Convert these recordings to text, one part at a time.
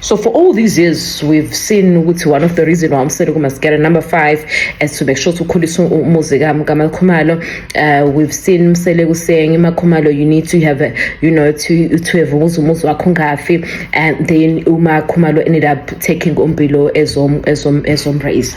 So for all these years we've seen ukuthi one of the reason why umsele kumaskera number 5 as to make sure to ukhulisa umuzi kaMakhumalo uh, we've seen umsele kusengi Makhumalo you need to have a, you know to to have umuzi umuzi wakho ngafi and then uMakhumalo ended up taking uMbilo as um as um as um raise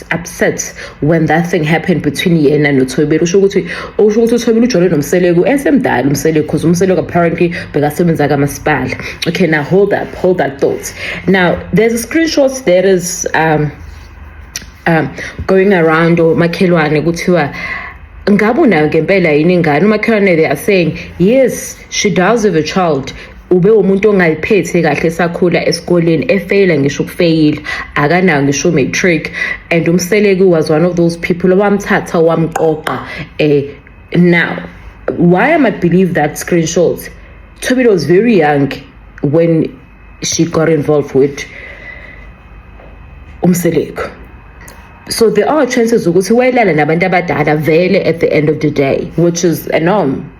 upset when that thing happened between yena nothobile usho ukuthi usho ukuthi uthobile ujole nomseleku esemdala umseleku because umseleku apparently bekasebenza kamasipala okay now hold up hold that thought now there's a screenshot that is um, um, going around omakhelwane kuthiwa ngabe unayo ngempela yini ingane umakhelwane they are saying yes she does have a child ube umuntu ongayiphethe kahle esakhula esikoleni efeyila ngisho ukufeyila akanayo ngisho matric and umseleki was one of those people owamthatha wamqoqa eh now why am i believe that screenshot Tobit was very young when she got involved with umseleko so there are chances ukuthi wayelala nabantu abadala vele at the end of the day which is a norm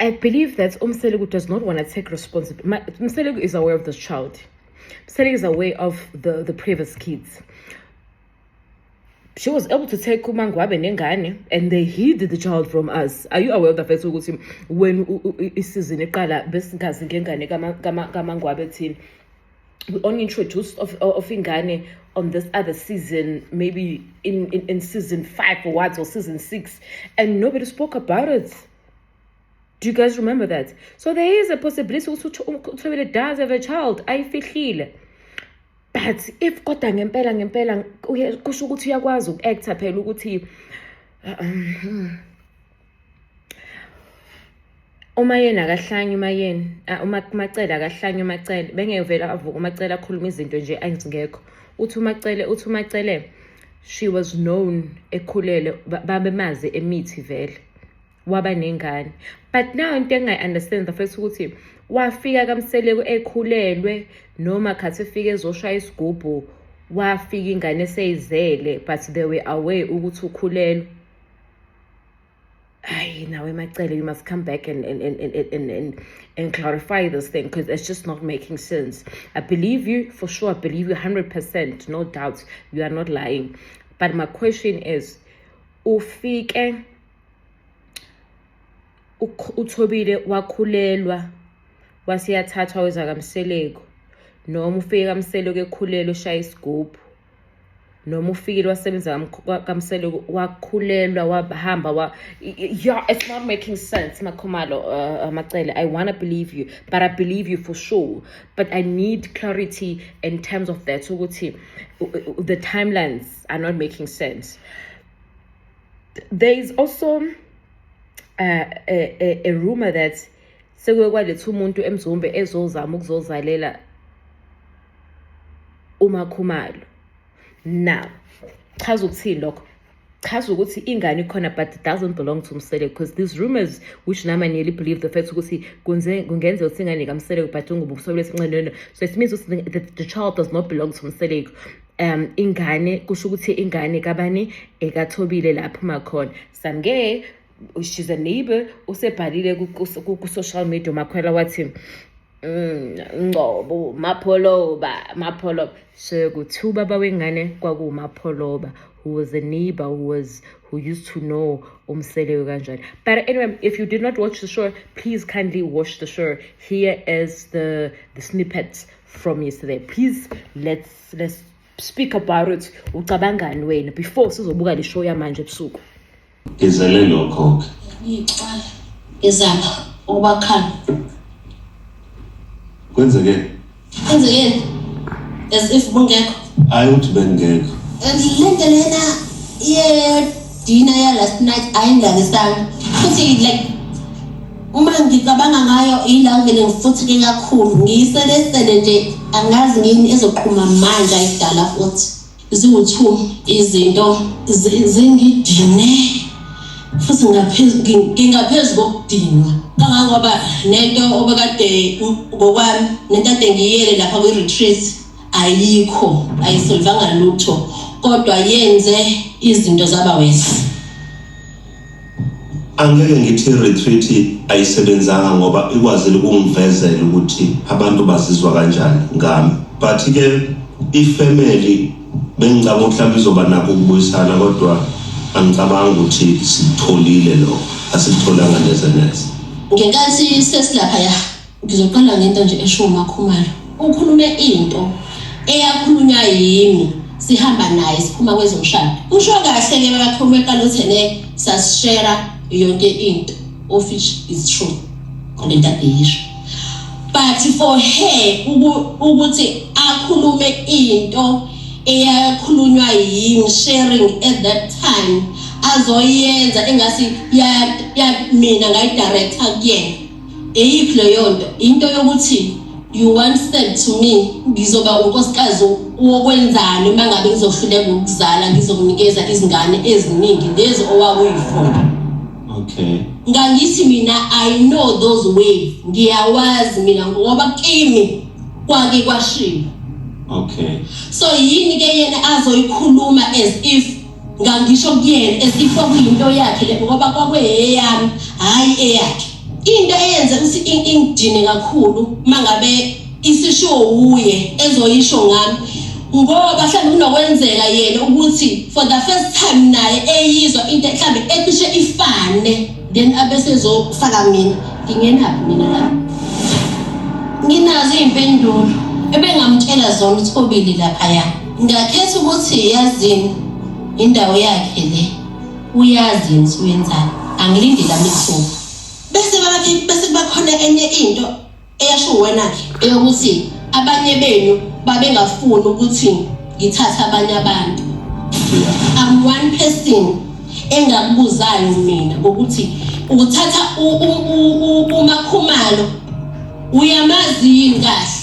I believe that Umseleku does not want to take responsibility. Umseleku is aware of this child. Umseleku is aware of the, the previous kids. She was able to take uMangwabe nengane and they hid the child from us. Are you aware of the fact ukuthi when isizini iqala besingazi ngengane kaMangwabe thina? we only introduced of, of ingane on this other season, maybe in, in, in season five or what, or season six, and nobody spoke about it. Do you guys remember that? So there is a possibility ukuthi uthobile does have a child ayifihlile but if kodwa ngempela ngempela kusho ukuthi uyakwazi uku-actor phela ukuthi um, uma yena akahlanye uma yena uma kumacela akahlanye umacele bengeke vele avuke umacele akhuluma izinto nje angizingekho uthi umacele uthi umacele she was known ekhulele babemazi emithi vele waba nengane but now into engayi-understand bafethu ukuthi wafika kamseleku ekhulelwe noma khathi efike ezoshaya isigubhu wafika ingane eseyizele but they were away ukuthi ukhulelwe Ay, now in my telling you must come back and and, and, and, and, and clarify this thing because it's just not making sense. I believe you for sure, I believe you 100%, no doubt, you are not lying. But my question is, ufike uthobile wakhulelwa waseyathathwa weza kamseleko noma ufike kamseleko ekhulelwe ushaya isigubhu noma ufikile wasebenza kamsele wakhulelwa wahamba wa yeah it's not making sense makhumalo uh, uh, macele i want to believe you but i believe you for sure but i need clarity in terms of that ukuthi uh, uh, the timelines are not making sense there is also uh, a, a, a rumor that sekuye kwaletha umuntu emzombe ezozama ukuzozalela uMakhumalo now chaza ukuthini lokho chaza ukuthi ingane ikhona but it doesn't belong to msele because these rumors which nami nearly believe the fact ukuthi kungenzeka ukuthi ingane kamseleko but ungubuso lesinqeneno so it means the, the, the child does not belong to mseleko um ingane kusho ukuthi ingane kabani ekathobile lapho makhona samke she's a neighbor usebhalile ku-social media umakhwela wathi mm, ngcobo mapholoba mapholoba so kuthiwa ubaba wengane kwakuwumapholoba who was a neighbor who was who used to know umselewe kanjani but anyway if you did not watch the show please kindly watch the show here is the the snippets from yesterday please let's let's speak about it ucabangani wena before sizobuka le show yamanje ebusuku Ngizele lokho ke. Ngicwala ngizama ukubakhala. Kwenzeke. Kwenzeke. As if bungekho. Hayi uthi bengekho. Lento lena ye dinner ya last night ayindakisanga. Futhi like uma ngicabanga ngayo ila ngene ngifutheke kakhulu ngiyiselesele nje angazi ngini ezoqhuma manje ayidala futhi ziwu-two izinto zingidine futhi ngingaphezu kokudinwa kangangoba nento obekade ngokwami nento ade ngiyele lapha kwi-retreat ayikho ayisolvanga lutho kodwa yenze izinto zaba wesi angeke ngithi retreat ayisebenzanga ngoba ikwazile ukungivezela ukuthi abantu bazizwa kanjani ngami but ke ifamily bengicabanga ukuthi mhlawumbe izoba nakho ukubuyisana kodwa angicabanga ukuthi sitholile lokho asitholanga neze neze ngenkathi sesilapha ya Ngizoqala ngento nje eshiwo uMakhumalo. Ukhulume into eyakhulunywa yimi sihamba naye siphuma kwezomshado. Usho kahle ke bakakhuluma eqala uthi ne sasishera yonke into of which is true. Kodwa akuyisho. But for her ukuthi akhulume into eyakhulunywa yimi sharing at that time azoyenza engasi ya mina ngayidirector kuyena Eyiphi leyonto into yokuthi you want said to me ngizoba unkosikazi wokwenzani uma ngabe ngizohluleka ukuzala ngizokunikeza izingane eziningi lezi owakuyifuna okay ngangithi mina i know those ways ngiyawazi mina ngoba kimi kwake kwashiba okay so yini ke yena azoyikhuluma as if ngangisho kuyena as if kwakuyinto yakhe le ngoba kwakweyeyami hhayi eyakhe into eyenze ukuthi ingidine kakhulu uma ngabe isisho wuye ezoyisho ngami ngoba mhlawumbe kunokwenzeka yena ukuthi for the first time naye eyizwa into mhlawumbe ecishe ifane then abesezofaka mina ngingenaphi mina la nginazo iy'mpendulo ebengamtshela zona ukuthi kobili laphaya Ngakhetha ukuthi yazini indawo yakhe le. Uyazi yini suyenzani? Angilindile amithuba. Bese bathi bese bakhona enye into eyasho wena ke eyokuthi abanye benu babengafuni ukuthi ngithathe abanye abantu. I'm one person engakubuzayo mina ukuthi uthatha umakhumalo uyamazi yini kahle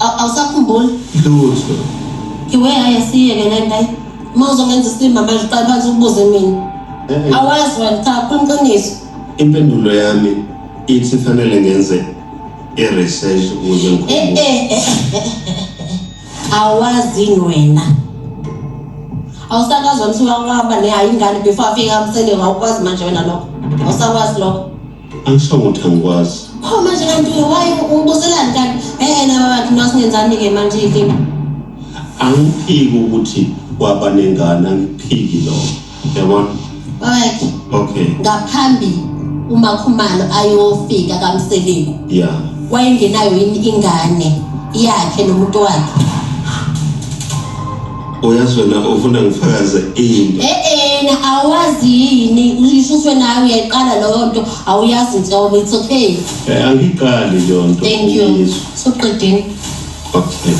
Aw- awusakhumbuli lutho iwe hayi asiyeke le nto ayi uma uzongenza isilima manje uqale phansi ukubuze mina Eh, awazi wena cha khuluma iqiniso impendulo yami ithi fanele ngenze i-research ukuze Eh, ngikhumbule eh, eh, eh, eh, eh. awazi yini wena awusakazwa mthi wawaba ne hayi ingane before afike amsele wawukwazi manje wena lokho awusakwazi lokho Angisho ukuthi angikwazi. Pho manje kanti why ubuzelani kanti? Eh na baba thina singenzani ke manje yini? Angiphiki ukuthi waba nengane angiphiki lo. Yabona? Alright. Okay. Ngaphambi uma khumalo ayofika kamseliku. Yeah. Wayengenayo yini ingane yakhe nomuntu wakhe? Uyazi wena ufuna ngifakaze into. Eh eh na awazi yini uyishuswe nayo uyayiqala leyo nto awuyazi nhlobo it's okay. Eh angiqali leyo nto. Thank you. Uyizwa. Soqedeni. Okay.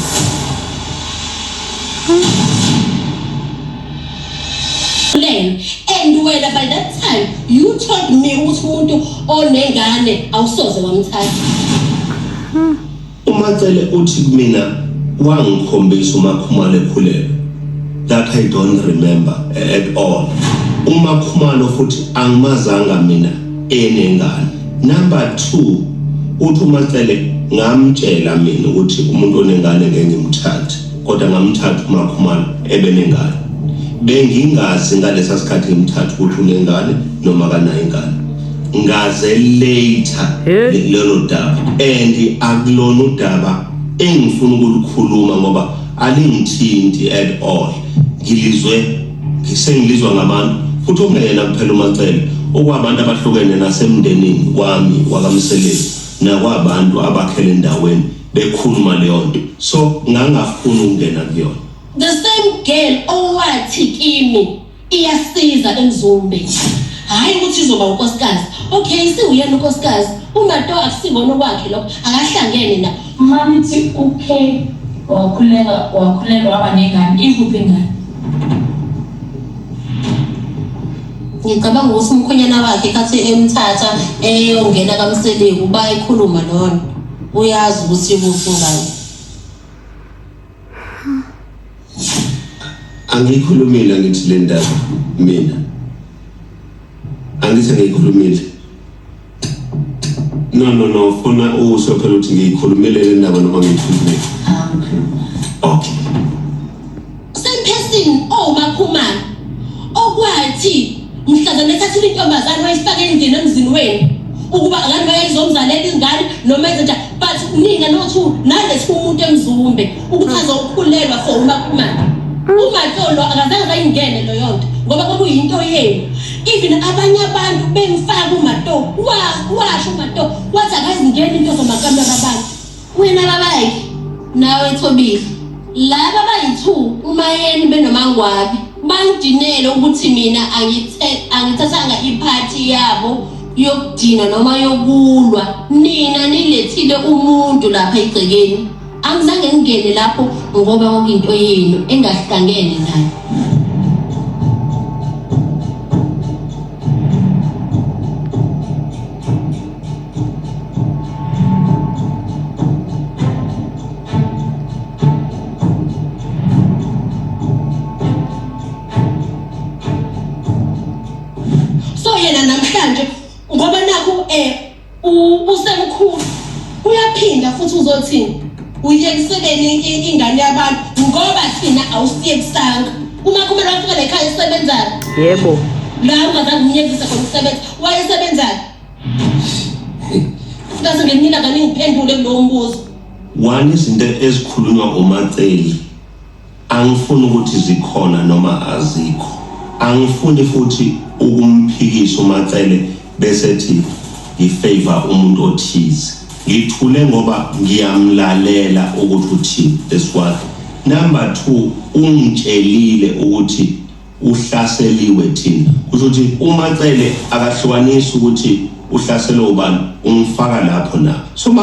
plan and wena by that time you told me ukuthi umuntu onengane awusoze wamthatha UMatsele uthi kumina wangikhombisa uMakhumalo ekhulelwe that I don't remember at all. UMakhumalo futhi angimazanga mina enengane. Number 2 uthi uMatsele ngamtshela mina ukuthi umuntu onengane ngeke ngimthathe kodwa ngamthatha uMakhumalo ebenengane. Bengingazi ngalesa sikhathi ngimthatha ukuthi unengane noma kanayo ingane. ngaze later Hey. lelo daba and akulona udaba engifuna ukulikhuluma ngoba alingithinti at all ngilizwe sengilizwa ngabantu futhi okungeyena kuphela umacele okwabantu abahlukene nasemndenini wami wakamsebenzi nakwabantu abakhele endaweni bekhuluma leyo nto so ngangafuni ukungena kuyona The same girl owathi kimi iyasiza emzumbe hhayi ukuthi izoba unkosikazi okay siwuyena unkosikazi umato akusiwona okwakhe lokho akahlangene na mamithi okay wakhuleka wakhulelwa waba nengane ikuphi ingane ngicabanga ukuthi umkhonyana wakhe khathi emthatha eyongena kamseleku bayikhuluma lona uyazi ukuthi ikuphi ingane angiyikhulumile ngithi le ndaba mina angithi angiyikhulumile no no no funa usho phela ukuthi ngiyikhulumile le ndaba noma ngiyikhulumile okay same person oh makhumana okwathi mhlazana ethathile intombazane wayifaka endlini emzini wenu ukuba ngani bayayizomzalela ingane noma ezenja but nina nothu nalesi umuntu emzumbe Uchaza ukukhulelwa for uma kumanje. Uma tolo akazange bayingene lo yonto ngoba kwakuyinto yenu. Even abanye abantu bemfaka umato wa washo umato wathi akazingeni into zomakamera abantu. Wena babayi nawe Thobile. Laba bayithu umayeni benomangwabi. Bangidinele ukuthi mina angithe angithathanga iphathi yabo yokudina noma yokulwa. Nina nilethile umuntu lapha egcekeni. Angizange ngingene lapho ngoba kwakuyinto yenu engahlangene nayo. So yena namhlanje ngoba nakho eh usemkhulu uyaphinda futhi uzothini uyekisebeni ingane yabantu ngoba thina awusiyekisanga uma kumele wafika lekhaya isebenzayo yebo la ungazange umyekise khona ukusebenza wayesebenzayo kaze ngenina kaningiphendule kulowo mbuzo one izinto ezikhulunywa ngomaceli Angifuni ukuthi zikhona noma azikho. Angifuni futhi ukumphikisa uMaCele bese ethi ngifavour umuntu othize. Ngithule ngoba ngiyamlalela ukuthi uthini. That's one. Number two, ungitshelile ukuthi uhlaseliwe thina. Kusho ukuthi uMaCele akahlukanisi ukuthi uhlaselwe ubani, ungifaka lapho na? So